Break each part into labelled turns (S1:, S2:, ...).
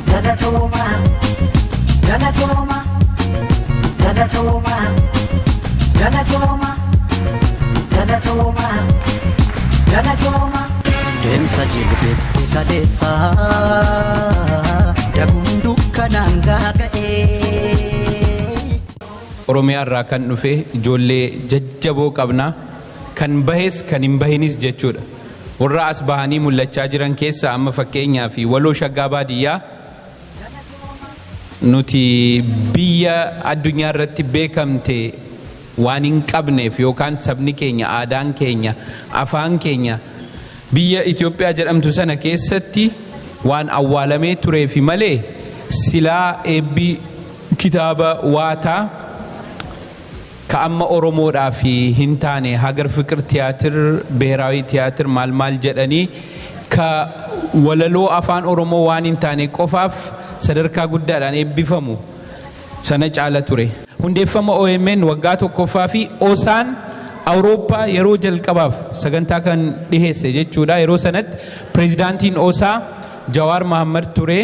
S1: Galatooma, galatooma, galatooma, galatooma, galatooma, galatooma. Deemsa jilbeetti kaleessa daguun dukkanaan gaaga'ee.
S2: Oromiyaa irraa kan dhufe ijoollee jajjaboo qabna. Kan bahes kan hin bahinis jechuudha. Warra as bahanii mul'achaa jiran keessaa amma fakkeenyaaf Waloo Shaggaa Baadiyyaa nuti biyya addunyaa irratti beekamte waan hin qabneef yookaan sabni keenya, aadaan keenya, afaan keenya biyya Itoophiyaa jedhamtu sana keessatti waan awwaalamee tureefi malee silaa eebbi kitaaba Waataa Ka amma Oromoodhaaf hin taane Hager Fiqir Tiyaatir, Biheraawi Tiyaatir maal maal jedhanii ka walaloo Afaan Oromoo waan hin taane qofaaf sadarkaa guddaadhaan eebbifamu sana caala ture. Hundeeffama omn waggaa 1ffaa fi osaan Awurooppaa yeroo jalqabaaf sagantaa kan dhiheesse jechuudha. Yeroo sanatti Pireezidaantiin osaa Jawaar Mahaammad ture.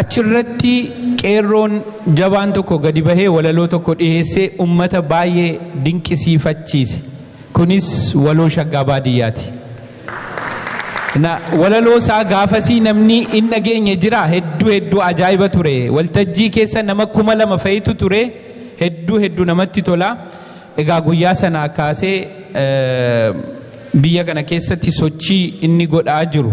S2: Achirratti qeerroon jabaan tokko gadi bahee walaloo tokko dhiheessee ummata baay'ee dinqisiifachiise. Kunis waloo shaggaa baadiyyaati. Na walaloo isaa gaafasii namni hin dhageenye jira hedduu hedduu ajaa'iba ture. Waltajjii keessa nama kuma lama fa'itu ture hedduu hedduu namatti tola. Egaa guyyaa sanaa kaasee eh, biyya kana keessatti sochii inni godhaa jiru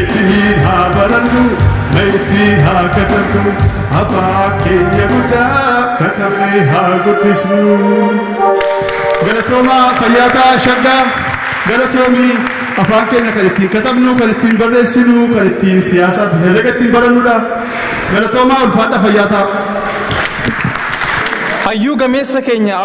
S3: Ittiin haa barannu ma ittiin haa katabnu afaa keenya guddaa katabnee haa guddisnu. Galatoomaa fayyaa ta'aa shaggaa galatoomii afaan keenya kan ittiin katabnu kan ittiin barreessinu kan ittiin siyaasaa fi herrega ittiin barannudha. Galatoomaa ulfaadha
S4: fayyaa ta'aa.
S3: Hayyuu
S4: gameessa keenya